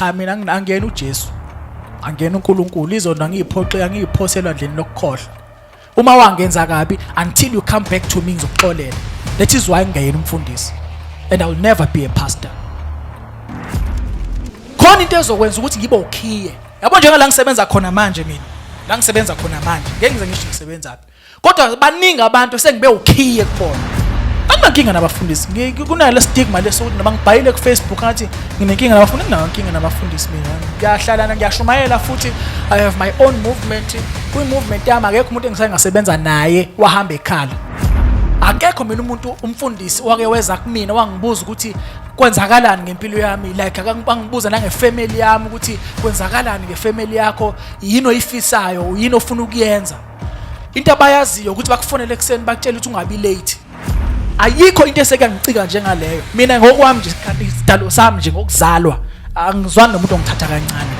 cha mina angiyena uJesu angiyena uNkulunkulu izono angiyiphoxe angiyiphoselwa ndleni lokukhohlwa uma wangenza kabi until you come back to me ngizokuxolela that is why ngingeyena umfundisi and i will never be a pastor khona into ezokwenza ukuthi ngibe ukhiye yabo njengala ngisebenza khona manje mina la ngisebenza khona manje ngeke ngize ngisho ngisebenzaphi kodwa baningi abantu sengibe ukhiye kubona anginankinga nabafundisi kunayo le stigma leso ukuthi noma ngibhayile kufacebook ngathi nginenkinga nabafundi nginayo nkinga nabafundisi mina ngiyahlalana ngiyashumayela futhi i have my own movement kwi-movement yami akekho umuntu engisaye ngasebenza naye wahamba ekhala akekho mina umuntu umfundisi wake weza kumina wangibuza ukuthi kwenzakalani ngempilo yami like akangibuza nangefamily yami ukuthi kwenzakalani ngefamily yakho yini oyifisayo yini ofuna ukuyenza into abayaziyo ukuthi bakufonele ekuseni bakutshela ukuthi ungabi late ayikho into eseke ngicika njengaleyo mina ngokwami nje isikhathi isidalo sami nje ngokuzalwa angizwani nomuntu ongithatha kancane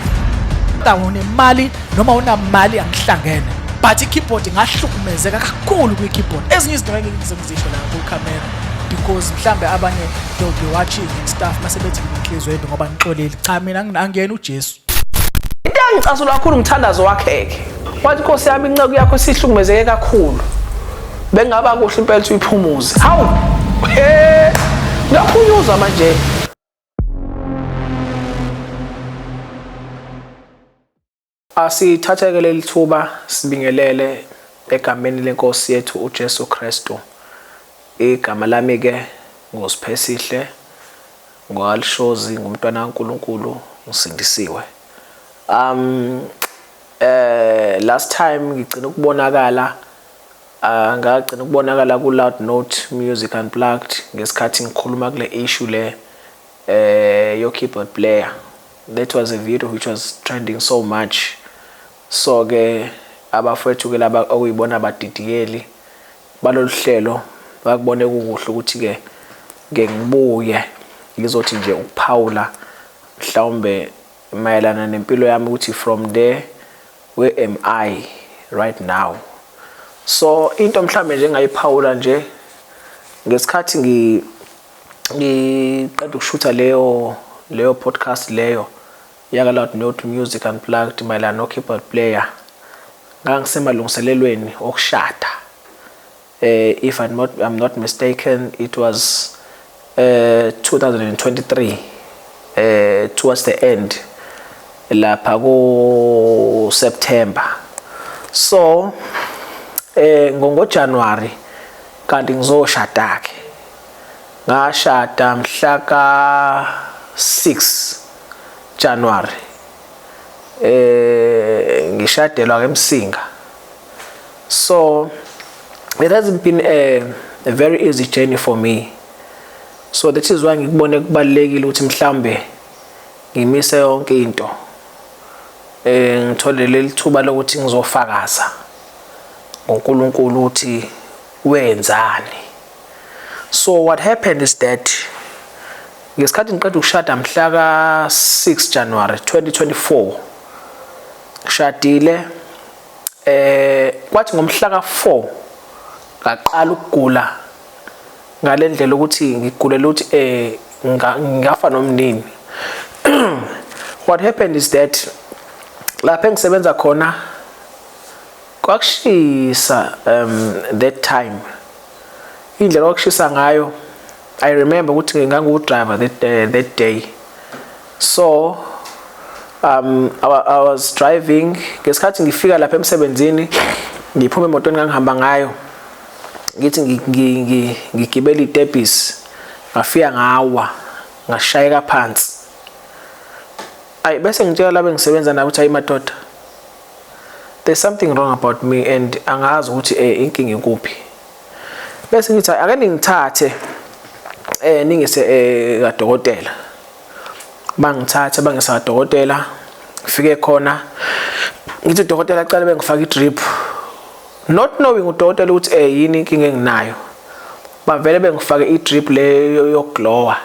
kodwa unemali noma unamali angihlangene but i-keyboard ngahlukumezeka kakhulu kwi-keyboard ezinye izinto ngeke ngizizisho la kwi-camera because mhlambe abanye they'll be watching and stuff mase bethi nginhliziyo yedwa ngoba ngixolile cha mina angiyena ujesu Into engicasula kakhulu umthandazo wakheke. Wathi Nkosi yami inceku yakho sihlukumezeke kakhulu. Bengaba kuhle impela uyiphumuze. Hawu. He! Ngaphunyuzwa manje. Asithatheke leli thuba sibingelele egameni lenkosi yethu uJesu Kristu. Igama lami ke nguSiphesihle Ngoal shozi ngumntwana kaNkulunkulu ngisindisiwe. Um eh last time ngigcina ukubonakala uh, ngagcina ukubonakala ku Loud Note Music Unplugged ngesikhathi ngikhuluma kule issue le eh your keyboard player. That was a video which was trending so much. So ke abafethu ke laba okuyibona abadidiyeli balolu hlelo bakubone kukuhle ukuthi-ke ngike ngibuye ngizothi nje ukuphawula mhlawumbe mayelana nempilo yami ukuthi from there where am I right now so into mhlawumbe nje engayiphawula nje ngesikhathi ngi ngiqeda ukushutha leyo leyo podcast leyo Yaka Loud Note Music Unplugged mayelana no-keyboard player ngangisemalungiselelweni okushada eh if I'm not, I'm not mistaken it was eh 2023 eh towards the end lapha ku September so eh ngo January kanti ngizoshada ke ngashada mhla ka 6 January eh ngishadelwa ke emsinga so it hasn't been a, a very easy journey for me so that is why ngikubone kubalekile ukuthi mhlambe ngimise yonke into eh ngithole lelithuba lokuthi ngizofakaza ngoNkulunkulu ukuthi wenzani so what happened is that ngesikhathi ngiqeda ukushada mhla ka 6 January 2024 shadile eh kwathi ngomhla ka 4 ngaqala ukugula ngalendlela ukuthi ngigulela ukuthi eh ngafa nomnini what happened is that lapha engisebenza khona Kwakushisa um that time indlela kwakushisa ngayo I remember ukuthi ngangu driver that, uh, that day so um I, I was driving ngesikhathi ngifika lapha emsebenzini ngiphuma emotweni ngangihamba ngayo ngithi ngigibela itebhisi ngafika ngawa ngashayeka phansi ayi bese ngitshela labe ngisebenza nabo ukuthi ayi madoda there's something wrong about me and angazi ukuthi eh inkinga ikuphi bese ngithi ake ningithathe eh ningise eh kadokotela bangithathe bangisa kadokotela ngifike khona ngithi dokotela cela bengifaka i-drip not knowing udokotela ukuthi eh yini inkinga enginayo bavele bengifake i-drip le yokuglowa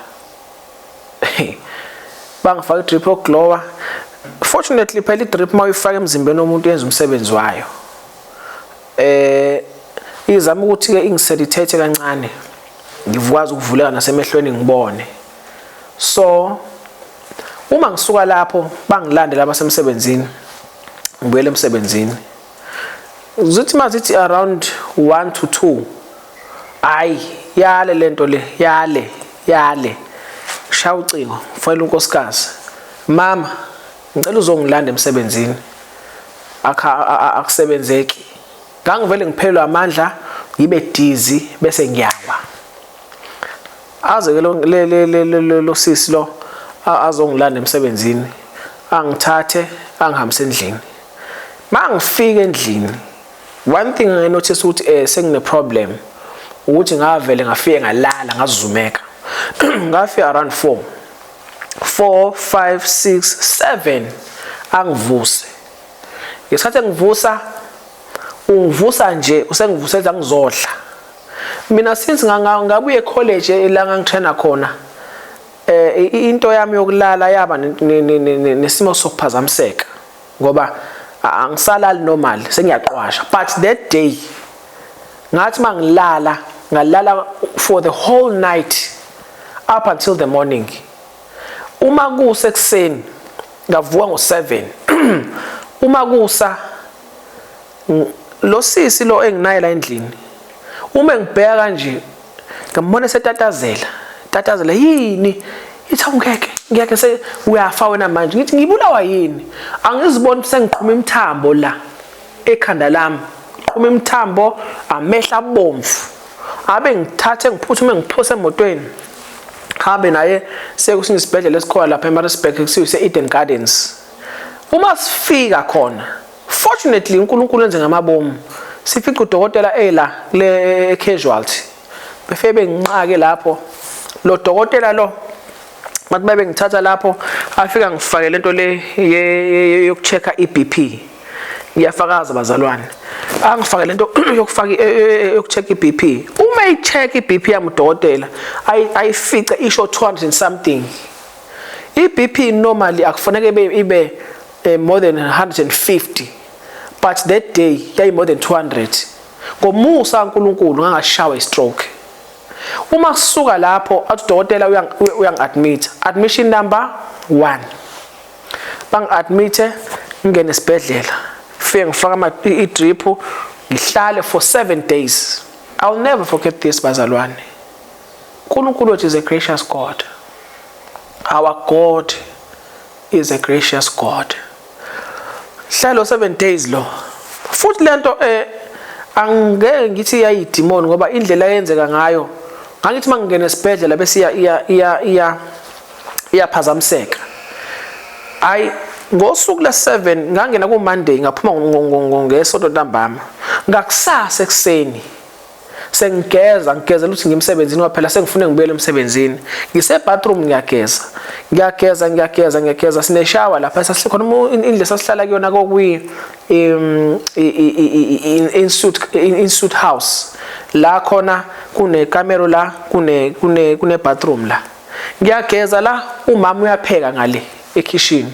bangifaka idrip yokuglowa fortunately phela idrip uma uyifaka emzimbeni womuntu yenza umsebenzi wayo eh izama ukuthi ke ingisedithethe kancane ngikwazi ukuvuleka nasemehlweni ngibone so uma ngisuka lapho bangilandela abasemsebenzini ngibuyele emsebenzini zithi mazithi around 1 to 2 hayi yale lento le yale yale shaya ucingo fanele unkosikazi mama ngicela uzongilanda emsebenzini akusebenzeki ngangivele ngiphelelwa amandla ngibe dizi bese ngiyawa aze ke lo le le le lo sisi lo azongilanda emsebenzini angithathe angihambise endlini mangifika endlini one thing i notice ukuthi eh sengine problem ukuthi ngavele ngafike ngalala ngazizumeka ngafika around 4 4 5 6 7 angivuse ngesikhathi engivusa ungivusa nje usengivusela ngizodla Mina since ngabuye college la ngangitraina khona eh into yami yokulala yaba nesimo sokuphazamiseka ngoba angisalali normal sengiyaqwasha but that day ngathi mangilala ngalala for the whole night up until the morning uma kuse kuseni ngavuka ngo7 uma kusa Losisi lo enginaye la endlini uma ngibheka kanje ngambona setatazela tatazela yini ithi awungeke ngeke se uyafa wena manje ngithi ngibulawa yini angiziboni sengiqhuma imthambo la ekhanda lami qhuma imthambo amehla abomvu abe ngithathe ngiphuthume ngiphose emotweni hambe naye sekusinye isibhedlela esikhona lapha eMaritzburg kusiwe se-Eden Gardens uma sifika khona Fortunately uNkulunkulu enze ngamabomu sifica udokotela ela le casualty befike benginqake lapho lo dokotela lo bathi babe ngithatha lapho afika ngifake lento le yokuchecka iBP ngiyafakaza bazalwane angifake lento yokufaka e, e, e, yokucheck iBP uma icheck iBP yami udokotela ayifice isho 200 something iBP normally akufanele ibe eh, more than 150 but that day yayi more than 200 ngomusa kaNkulunkulu ngangashawa istroke uma kusuka lapho athi udokotela uyangi-admit admission number 1 bangi-admite ngingene esibhedlela fike ngifaka i-drip ngihlale for 7 days i will never forget this bazalwane uNkulunkulu wethu is a gracious God our God is a gracious God hlelo 7 days lo futhi lento eh angeke ngithi yayidimoni ngoba indlela yenzeka ngayo ngangithi mangingena esibhedlela bese iya iya iya iya iyaphazamiseka hayi ngosuku le-7 ngangena kumonday ngaphuma ngesonto ntambama ngakusasa ekuseni sengigeza ngigezela ukuthi ngimsebenzini kwaphela sengifune ngibuyele emsebenzini ngisebathroom ngiyageza ngiyageza ngiyageza ngiyageza sineshawa lapha sasikhona indle sasihlala kuyona kokwi insuit insuit house la khona kune camera la kune kune kune bathroom la ngiyageza la umama uyapheka ngale ekhishini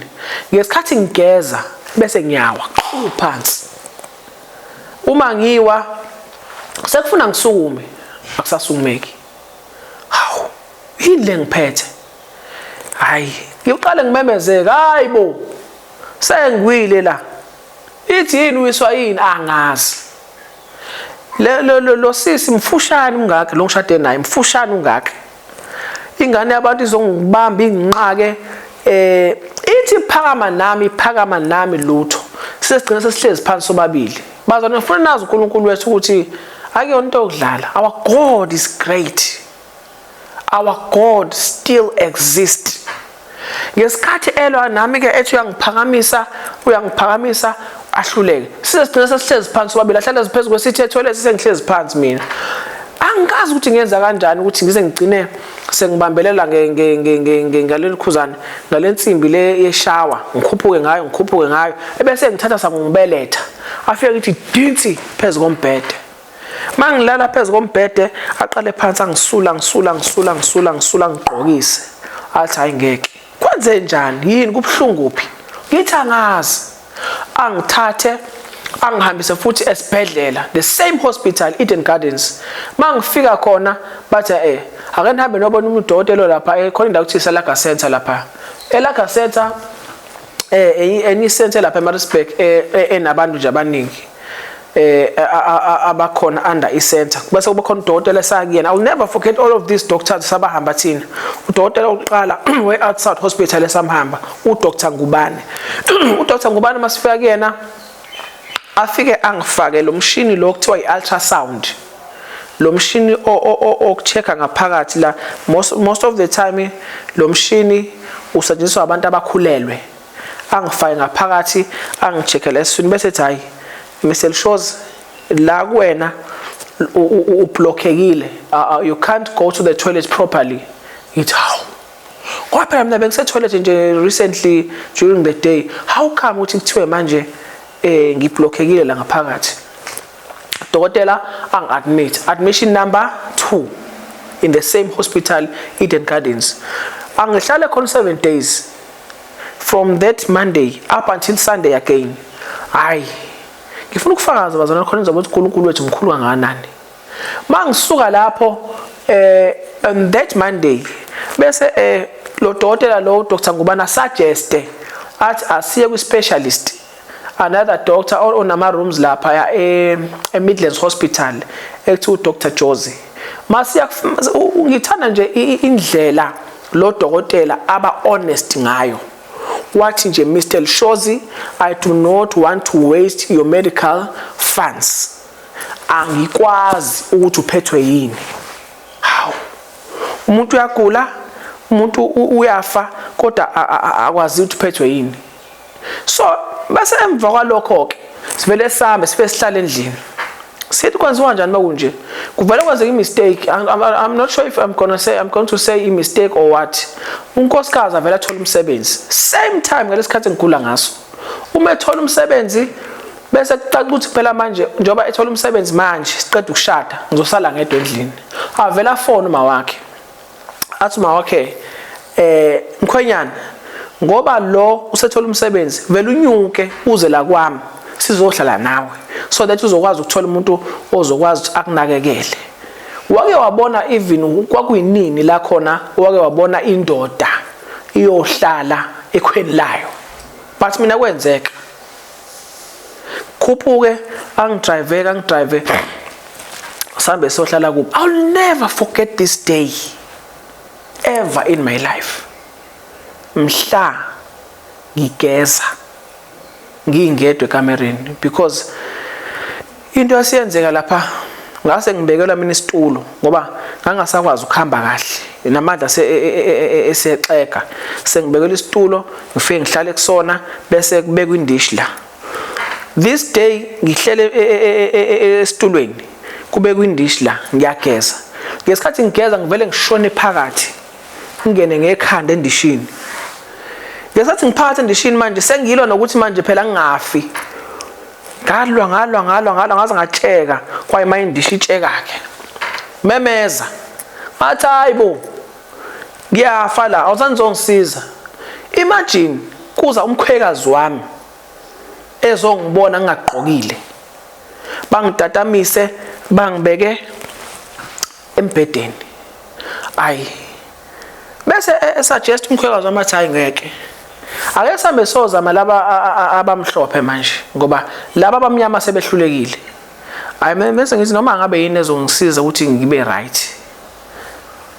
ngesikhathi ngigeza bese ngiyawa phansi uma ngiwa sekufuna ngisukume akusasumeki hawu yini le ngiphethe hayi ngiqale ngimemezeka hayi bo sengiwile la ithi yini uyiswa yini angazi lo sisi mfushane ungaka lo ngishade naye mfushane ungaka ingane yabantu izongibamba inginqake eh ithi phakama nami phakama nami lutho sesigcina sesihlezi phansi sobabili bazana ngifuna nazi uNkulunkulu wethu ukuthi akuyona into yokudlala our god is great our god still exists ngesikhathi elwa nami ke ethi uyangiphakamisa uyangiphakamisa ahluleke size sigcina sesihlezi phansi babili ahlale phezu kwesithe toilet sengihlezi phansi mina angikazi ukuthi ngenza kanjani ukuthi ngize ngigcine sengibambelela ngaleli khuzane ngale nsimbi le yeshawa ngikhuphuke ngayo ngikhuphuke ngayo ebese ngithatha sangungibeletha afike ngithi dinsi phezu kombhede mangilala phezu kombhede aqale phansi angisula ngisula ngisula ngisula ngisula ngigqokise athi hayi ngeke kwenze njani yini kubuhlungu phi ngithi angazi angithathe angihambise futhi esibhedlela the same hospital Eden Gardens mangifika khona bathi eh ake nihambe nobona umuntu dokotela lapha eh khona indawo kuthi selaga center lapha elaga center eh, eh enye isenthe lapha eMaritzburg eh, eh, enabantu nje abaningi eh abakhona under isentha bese kuba khona udokotela esakuyena i will never forget all of these doctors sabahamba thina udokotela oqala we outside hospital esamhamba udr ngubane udr ngubane masifika kuyena afike angifake lo mshini lo kuthiwa i-ultrasound lo mshini okucheck-a ngaphakathi la most, most of the time lo mshini usetshenziswa abantu abakhulelwe angifake ngaphakathi angicheckele esiswini bese ethi hhayi mr shows la kuwena ublockekile uh, uh, you can't go to the toilet properly ngithi hawu Ngoba phela mina bengisetoilet nje recently during the day. How come ukuthi kuthiwe manje eh ngiblockekile la ngaphakathi? Dokotela angi-admit. Admission number 2 in the same hospital Eden Gardens. Angihlale khona 7 days from that Monday up until Sunday again. Hayi. Ngifuna ukufakaza bazalwane khona ngizobe ukuthi uNkulunkulu wethu mkhulu kangakanani. mangisuka lapho eh on that monday bese eh lo dokotela lo Dr Ngubana suggeste athi asiye kwi specialist another doctor or onama rooms lapha ya e, e Midlands Hospital ekuthiwa uDr Jozi masiya ngithanda nje indlela lo dokotela aba honest ngayo wathi nje Mr Shozi I do not want to waste your medical funds angikwazi ukuthi uphethwe yini hawu umuntu uyagula umuntu uyafa kodwa akwazi ukuthi uphethwe yini so base emva kwalokho ke sivele sihambe sibe sihlala endlini sithi kwenziwa kanjani makunje kuvele kwenzeka imistake i'm not sure if i'm gonna say i'm going to say imistake or what unkosikazi avele athola umsebenzi same time ngalesikhathi ngigula ngaso uma ethola umsebenzi Bese kucaca ukuthi phela manje njengoba ethola umsebenzi manje siqeda ukushada ngizosala ngedwa endlini. Avela phone uma wakhe. Athi uma wakhe eh mkhwenyana ngoba lo usethola umsebenzi vele unyuke uze la kwami sizohlala nawe so that uzokwazi ukuthola umuntu ozokwazi ukuthi akunakekele wake wabona even kwakuyinini la khona wake wabona indoda iyohlala ekhweni layo but mina kwenzeka khuphuke angidrive angidrive sambe sohlala kubo i'll never forget this day ever in my life mhla ngigeza ngingedwe kamereni because Into esiyenzeka lapha ngase ngibekelwa mina isitulo ngoba ngangasakwazi ukuhamba kahle namandla e, e, e, esexega sengibekelwa isitulo ngifike ngihlale kusona bese kubekwa indish la this day ngihlele esitulweni kubekwa indish la ngiyageza ngesikhathi ngigeza ngivele ngishone phakathi ngingene ngekhanda endishini ngesikhathi ngiphakathi endishini manje sengiyilona ukuthi manje phela ngingafi ngalwa ngalwa ngalwa ngalwa ngaze ngatsheka kwaye mayindisha itsheka ke memeza ngathi hayibo ngiyafa la awusanizongisiza imagine kuza umkhwekazi wami ezongibona ngingagqokile bangidatamise bangibeke embhedeni ayi bese e, e, suggest umkhwekazi wami athi hayi ngeke ake sambe sozama laba abamhlophe manje ngoba laba abamnyama sebehlulekile ayi mese ngithi noma ngabe yini ezongisiza ukuthi ngibe right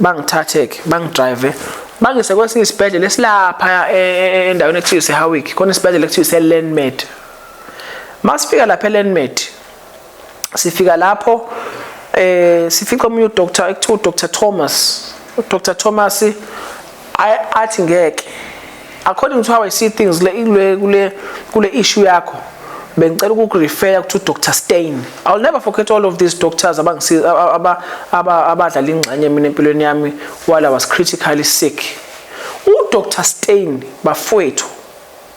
bangithathe ke bangidrive bangise kwesinye isibhedlela esilapha e, endaweni ekuthiwa isehawick khona isibhedlela ekuthiwa iselandmed masifika lapha elandmed sifika lapho eh sifica omunye udoctor ekuthiwa udr thomas udr thomas athi ngeke according to how i see things le kule kule kule issue yakho bengicela ukukurefera kuthi udr stein i will never forget all of these doctors abadlala ingxenye mina empilweni yami while i was critically sick udr stein bafowethu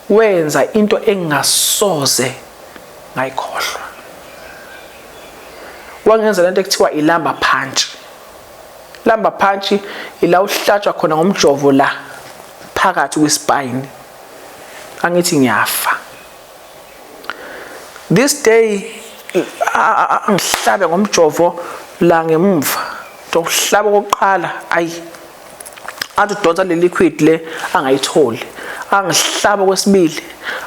Wenza into engingasoze ngayikhohlwa. Wangenza lento ekuthiwa ilamba punch. Lamba punch ila uhlatshwa khona ngomjovo la phakathi kwespine. Angithi ngiyafa. This day angihlabe ngomjovo la ngemumva. Ngizohlaba okokuqala ayi athi udonsa le liquid le angayitholi angihlaba kwesibili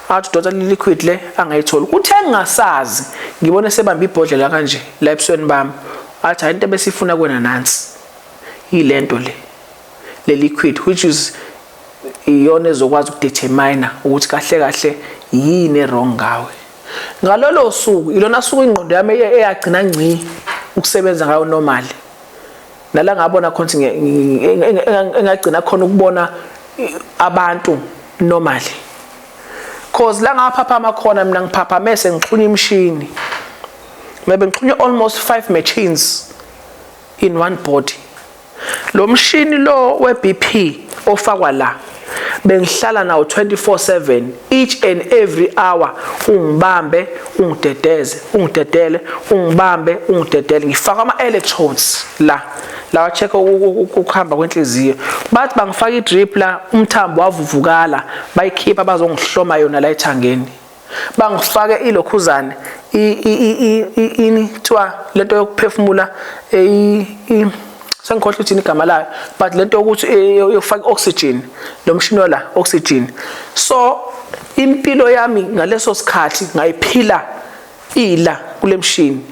athi udonsa le liquid le angayitholi kuthe ngingasazi ngibone sebamba ibhodlela kanje la ebusweni bami athi hayi into besifuna kwena nansi yilento le le liquid which is iyona ezokwazi ukudetermine ukuthi kahle kahle yini erong ngawe ngalolo suku ilona suku ingqondo yami eyagcina ngci ukusebenza ngayo normally nala ngabona khona ukuthi engagcina khona ukubona abantu normally cause la ngaphaphama khona mina ngiphaphame sengixhunywa imishini maybe ngixhunywe almost 5 machines in one body lo mshini lo we-BP ofakwa la bengihlala nawo 24/7 each and every hour ungibambe ungidedeze ungidedele ungibambe ungidedele ngifaka ama electrodes la lawa check ukuhamba kwenhliziyo bathi bangifaka idrip la umthambo wavuvukala bayikhipha bazongihloma yona la ethangeni bangifake ilokhuzane ini kuthiwa lento yokuphefumula sengikhohlwa uthini igama layo but lento yokuthi eh, yokufaka oxygen lo mshini wala oxygen so impilo yami ngaleso sikhathi ngayiphila ila kule mshini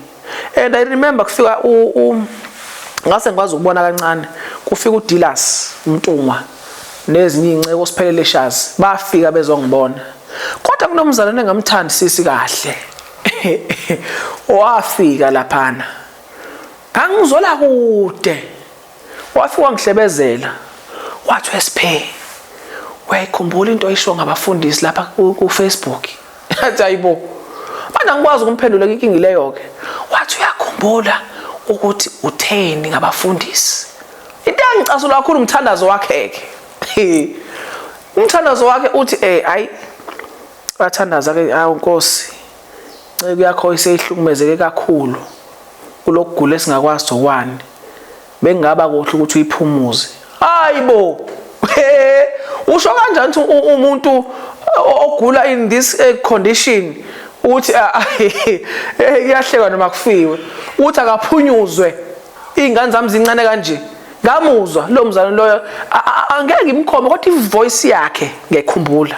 and i remember kufika u ngase ngikwazi ukubona kancane kufika uDilas Mtungwa nezinye izinceko siphelele shazi bafika bezongibona kodwa kunomzalwane engamthandi sisi kahle wafika laphana ngangizwela kude Wafi wangihlebezela wathi wesiphe uyayikhumbula into oyisho ngabafundisi lapha ku Facebook athi ayibo manje angikwazi ukumphendula inkinga leyo ke wathi uyakhumbula ukuthi utheni ngabafundisi into engicasula kakhulu umthandazo wakhe ke umthandazo wakhe uthi eh ayi bathandaza ke awu nkosi Inceku yakho iseyihlukumezeke kakhulu kulokugula esingakwazi zokwani. Bengaba kuhle ukuthi uyiphumuze. Hayibo! Usho kanjani ukuthi umuntu ogula in this eh, condition ukuthi ah, ah, eh, kuyahlekwa noma kufiwe uthi akaphunyuzwe iy'ngane zami zincane kanje ngamuzwa lo mzalwane loyo angeke ngimkhome kodwa ivoice yakhe ngekhumbula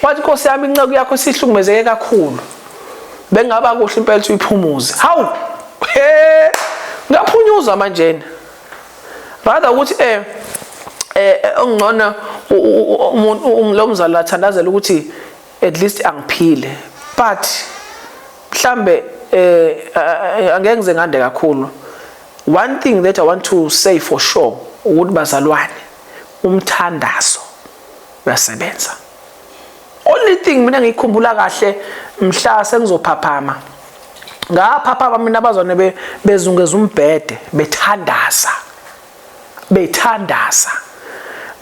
wathi nkosi yami inceku yakho isihlukumezeke kakhulu bengaba kuhle impela ukuthi uyiphumuze hawu he ngaphunyuzwa manjena rather ukuthi eh eh, eh ongcono umuntu lo mzali wathandazela ukuthi at least angiphile but mhlambe eh, eh angeke ngize ngande kakhulu one thing that i want to say for sure ukuthi bazalwane umthandazo uyasebenza only thing mina ngikhumbula kahle mhla sengizophaphama ngaphaphama mina abazwane be bezungeza umbhede bethandaza bethandaza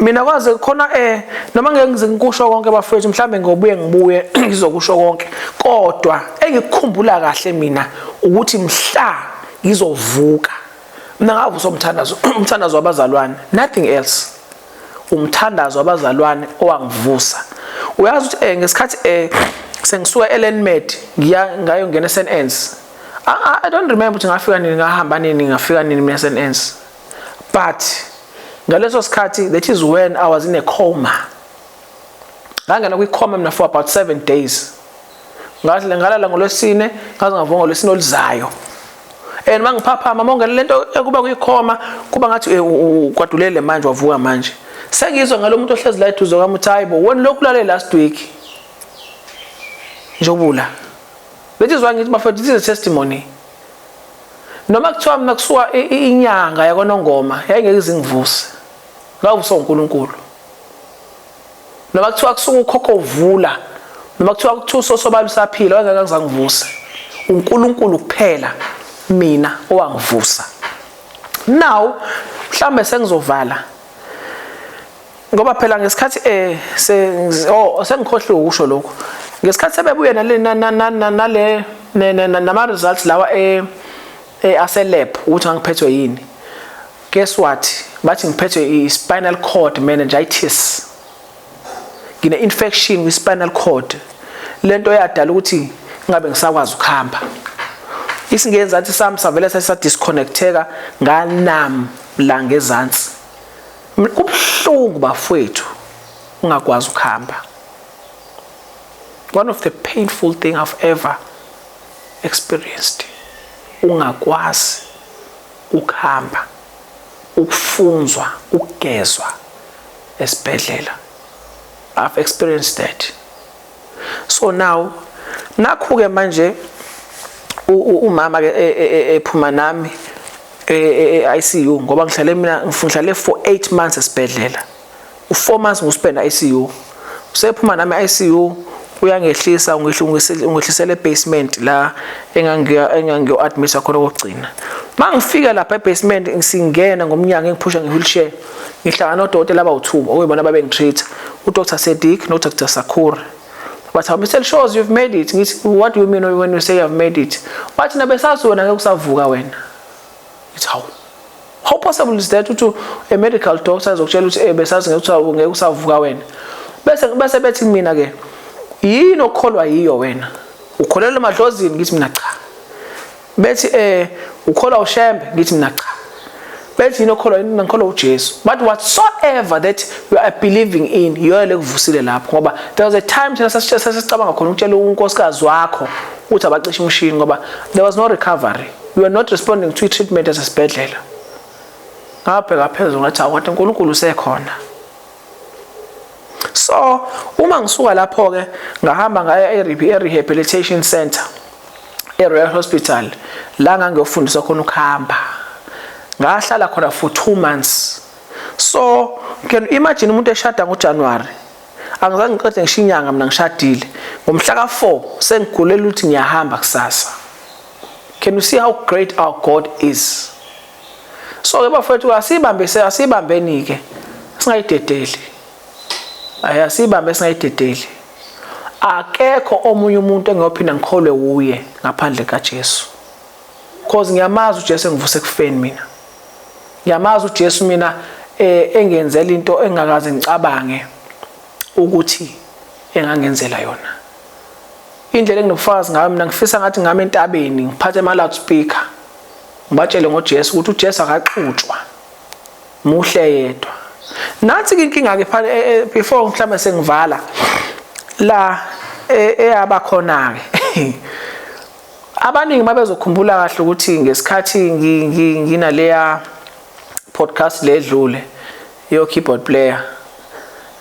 mina kwaze khona eh noma ngeke ngize ngikusho konke bafethu mhlambe ngobuye ngibuye ngizokusho konke kodwa engikukhumbula kahle mina ukuthi mhla ngizovuka mina ngavusa umthandazo umthandazo wabazalwane nothing else umthandazo wabazalwane owangivusa uyazi ukuthi eh ngesikhathi eh sengisuka eLenmed ngiya ngayo ngena eSNS I don't remember ukuthi ngafika nini ngahamba nini ngafika nini mina eSNS but ngaleso sikhathi that is when I was in a coma ngangena kwi coma mina for about 7 days ngathi ngalala ngolwesine ngaze ngavuka ngolwesine oluzayo and mangiphaphama monke lento ekuba kuyikhoma kuba ngathi eh, kwadulele manje wavuka manje sengizwe ngalomuntu ohlezi la eduze kwami uthi hayibo wena lokhu lale last week njobula bethi zwa ngithi bafethu this is testimony noma kuthiwa mina kusuka inyanga yakonongoma yayingeke izingivuse ngawuvusa uNkulunkulu noma kuthiwa kusuka ukhokho uvula noma kuthiwa kuthiwa usosobala usaphila wayengeke ngizangivuse uNkulunkulu kuphela mina owangivusa now mhlambe sengizovala ngoba phela ngesikhathi eh oh, sengikhohliwe ukusho lokho ngesikhathi sebebuye nale nale nama results lawa eh, eh aselab ukuthi angiphethwe yini Guess what? Bathi ngiphethwe i-spinal cord meningitis. Ngine-infection kwi-spinal cord. Le nto yadala ukuthi ngabe ngisakwazi ukuhamba. Isingenzansi sami savele sasadisconnecteka nganam la ngezansi. Kubuhlungu bafowethu ungakwazi ukuhamba. One of the painful thing I've ever experienced. Ungakwazi Ukuhamba, ukufunzwa, ukugezwa esibhedlela. I've experienced that. So now nakhu ke manje umama ke e, e, e, ephuma nami e-ICU ngoba ngihlale mina ngifunhlale for 8 months esibhedlela. U-four months ngusibhena ICU. Usephuma nami ICU uyangehlisa ungehlisela e-basement la engangiyo-admisa khona okokugcina. Uma ngifika lapha e-basement ngisingena ngomnyango engiphusha nge-wheelchair ngihlangana nodokotela abawu-two okuyibona ababengi-treat-a uDr Sedick noDr Sakhura. Bathi, hawu Mr Shows you've made it. Ngithi, what do you mean when you say you've made it? Bathi, nabesazi wena ngeke usavuka wena. It's how how possible is that ukuthi a medical doctor ezokutshela ukuthi eh besazi ngeke usawu ngeke usavuka wena bese bese bethi mina ke yini okholwa yiyo wena ukholelwa emadlozini ngithi mina cha bethi eh ukholwa ushembe ngithi mina cha bethi yini okholwa yini ngikholwa uJesu but whatsoever that you are believing in yiyo lekuvusile lapho ngoba there was a time thina sasicabanga khona ukutshela unkosikazi wakho ukuthi abacishe umshini ngoba there was no recovery you are not responding to treatment as a sibhedlela ngabheka phezulu ngathi awuthi uNkulunkulu usekhona so uma ngisuka lapho ke ngahamba ngaya e-rehabilitation center e-royal hospital la ngangiyofundiswa khona ukuhamba ngahlala khona for two months so can you imagine umuntu eshada ngojanuwari angizange ngiqede ngisho inyanga mina ngishadile ngomhla ka-four sengigulela ukuthi ngiyahamba kusasa Can you see how great our God is? So ke bafethu asibambe se asibambeni ke singayidedeli. Ayi asibambe singayidedeli. Akekho omunye umuntu engiyophinda ngikholwe wuye ngaphandle kaJesu. Cause ngiyamazi uJesu engivuse kufeni mina. Ngiyamazi uJesu mina eh, engenzela into engakaze ngicabange ukuthi engangenzela yona. Indlela enginobufakazi ngayo mina ngifisa ngathi ngami entabeni ngiphathe ama loudspeaker ngibatshele ngoJesu ukuthi uJesu akaxutshwa muhle yedwa nathi inkinga ke phana eh, eh, before mhlawumbe sengivala la eh, eyaba khona ke abaningi babezokhumbula kahle ukuthi ngesikhathi nginaleya podcast ledlule Yo keyboard player.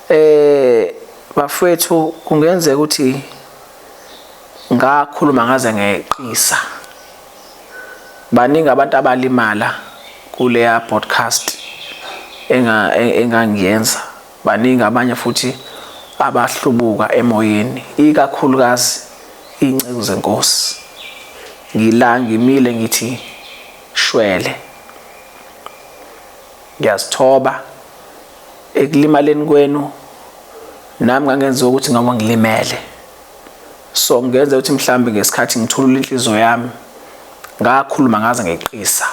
Eh bafwethu kungenzeka ukuthi ngakhuluma ngaze ngeqisa. Baningi abantu abalimala kuleya podcast enga engangiyenza. Baningi abanye futhi abahlubuka emoyeni ikakhulukazi inceku zenkosi. Ngila ngimile ngithi shwele. Ngiyazithoba ekulimaleni kwenu nami ngangenziwa ukuthi ngoba ngilimele so ngenze ukuthi mhlambe ngesikhathi ngithulula inhliziyo yami ngakhuluma ngaze ngeqisa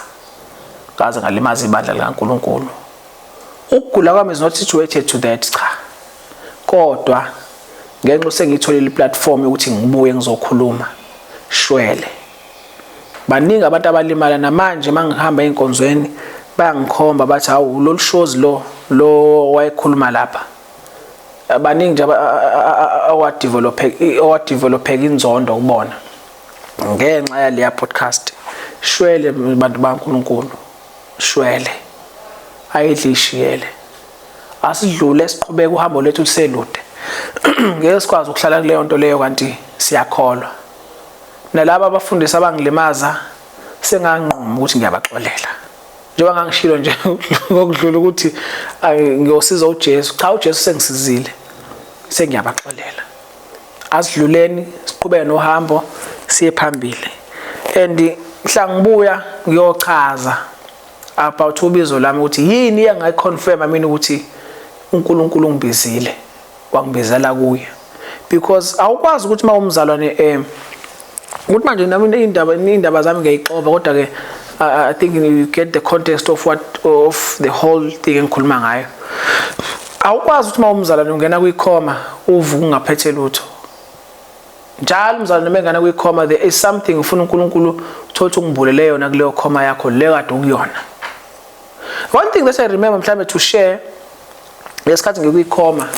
ngaze ngalimaza ibandla likaNkuluNkulu ukugula kwami is not situated to that cha kodwa ngenxa usengitholile iplatform yokuthi ngibuye ngizokhuluma shwele baningi abantu abalimala namanje mangihamba einkonzweni bayangikhomba bathi hawu lolu shozi lo lo wayekhuluma lapha baningi nje awadevelopheka awadevelopheka inzondo kubona ngenxa yaleya podcast shwele bantu baNkulunkulu shwele ayidlishiyele asidlule siqhubeke uhambo lethu luselude ngeke sikwazi ukuhlala kuleyo nto leyo kanti siyakholwa Nalaba abafundisi abangilimaza senganquma ukuthi ngiyabaxolela. Njengoba ngangishilo nje ngokudlula ukuthi ngiyosiza uJesu. Cha uJesu sengisizile. Sengiyabaxolela. Asidluleni siqhubeke nohambo siye phambili. And mhla ngibuya ngiyochaza about ubizo lami ukuthi yini engayiconfirma mina ukuthi uNkulunkulu ungibizile. wangibizela kuye because awukwazi ukuthi uma umzalwane um ukuthi manje nami iy'ndaba iy'ndaba zami ngiyayixova kodwa ke i think you get the context of what of the whole thing engikhuluma ngayo awukwazi ukuthi uma umzalwane ungena kwikhoma uvu kungaphethe lutho njalo umzalwane uma engena kwikhoma there is something ufuna unkulunkulu uthole ukuthi ungibulele yona kuleyo khoma yakho leyo kade ukuyona one thing that i remember mhlawumbe to share ngesikhathi ngikwikhoma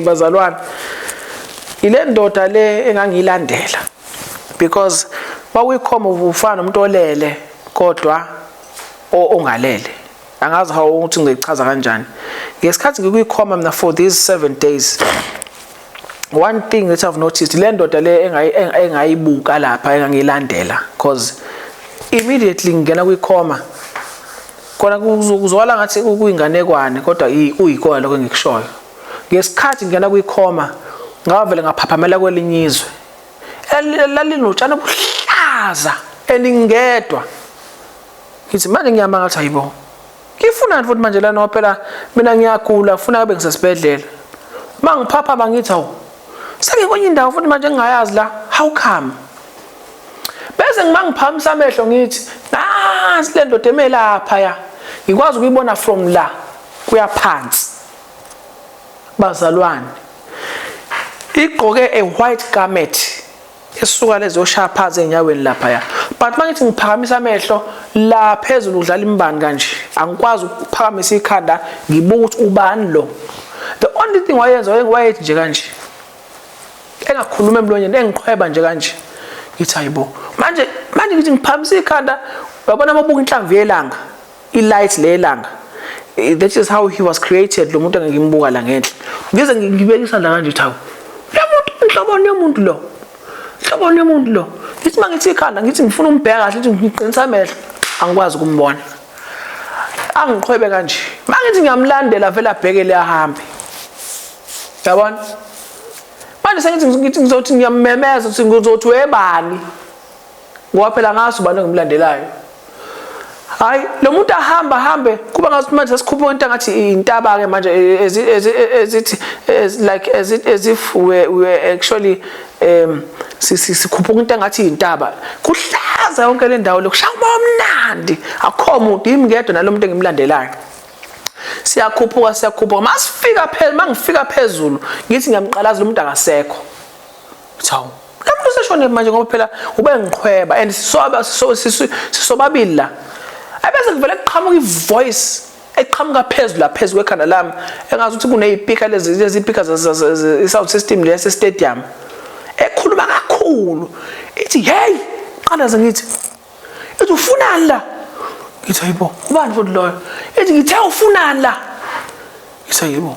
bazalwane ile ndoda le engangiyilandela because kwakuyikhoma ufana nomuntu olele kodwa ongalele angazi how ukuthi ngichaza kanjani ngesikhathi ngikwikhoma mina for these 7 days one thing that i've noticed le ndoda le engayibuka lapha engangilandela because immediately ngingena kwikhoma Khona kuzwakala ngathi kuyinganekwane kodwa uyikona lokho engikushoyo. Ngesikhathi ngingena kwikhoma ngavele ngaphaphamela kwelinye izwe. Lalinotshani obuhlaza eningedwa. Ngithi manje ngiyamanga ukuthi hayibo. Ngifunani futhi manje lana phela mina ngiyagula ngifuna kube ngisesibhedlela. Mangiphaphama ngithi hawu. Sengikwenye indawo futhi manje engingayazi la. How come? bese ngimangiphamisa amehlo ngithi nansi le ndoda emelapha ya ngikwazi ukuyibona from la kuya phansi bazalwane igqoke a white garment esuka lezoshaya phansi enyaweni lapha ya but mangithi ngiphakamisa amehlo la phezulu udlala imbani kanje angikwazi ukuphakamisa ikhanda ngibuka ukuthi ubani lo the only thing wayenza wayethi nje kanje engakhuluma emlonyeni engiqhweba nje kanje ngithi hayibo manje manje ngithi ngiphakamisa ikhanda wabona mabuka inhlamvu yelanga ilight lelanga eh, that is how he was created lo muntu engimbuka la ngenhla ngize ngibekisa la kanje thawu lo muntu inhlobo yomuntu lo inhlobo yomuntu lo ngithi mangithi ikhanda ngithi ngifuna umbheka kahle ukuthi ngiqinisa amehlo angikwazi ukumbona angiqhwebe kanje mangithi ngiyamlandela vele abhekele ahambe yabona manje sengithi ngithi ngizothi ngiyamemeza ukuthi ngizothi webani ngoba phela ngazi ubani engimlandelayo hayi lo muntu ahamba hambe kuba ngathi manje sesikhupha into ngathi intaba ke manje as as as it as like as it as if we we actually um sikhupha into ngathi intaba kuhlaza yonke le ndawo lokushaya umamnandi akho muntu yimi ngedwa nalomuntu engimlandelayo siyakhuphuka siyakhuphuka masifika phela mangifika phezulu ngithi ngiyamqalaza lo muntu akasekho thawu lamuntu useshone manje ngoba phela ube ngiqhweba and sisoba sisobabili la ebese kuvele kuqhamuka ivoice eqhamuka phezulu la phezulu kwekhanda lami engazi ukuthi kuneyipika lezi lezi pika sound system lesi stadium ekhuluma kakhulu ithi hey qalaza ngithi ethi ufunani la ngithi hayibo ubani futhi loyo ethi ngithe ufunani la ngithi hayibo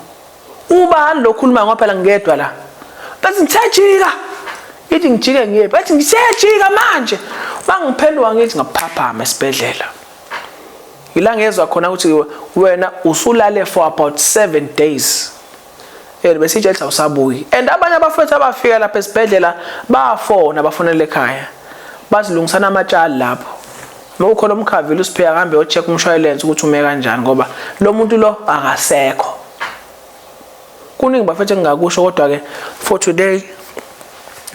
ubani lo khuluma ngoba phela ngedwa la bathi ngithajika ithi ngijike ngiye bathi ngisejika manje bangiphendula ngithi ngaphaphama esibhedlela ila ngezwa khona ukuthi wena usulale for about 7 days Yena besitshe ethi awusabuyi. And abanye abafethu abafika lapha esibhedlela bafona bafonela ekhaya. Bazilungisana amatshali lapho. Uma ukhona umkhavile usipheka kambe yo check umshwalense ukuthi ume kanjani ngoba lo muntu lo akasekho. Kuningi bafethu engingakusho kodwa ke for today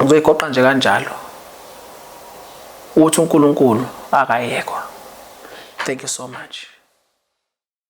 ngizoyigoqa nje kanjalo. Ukuthi uNkulunkulu akayekwa. Thank you so much.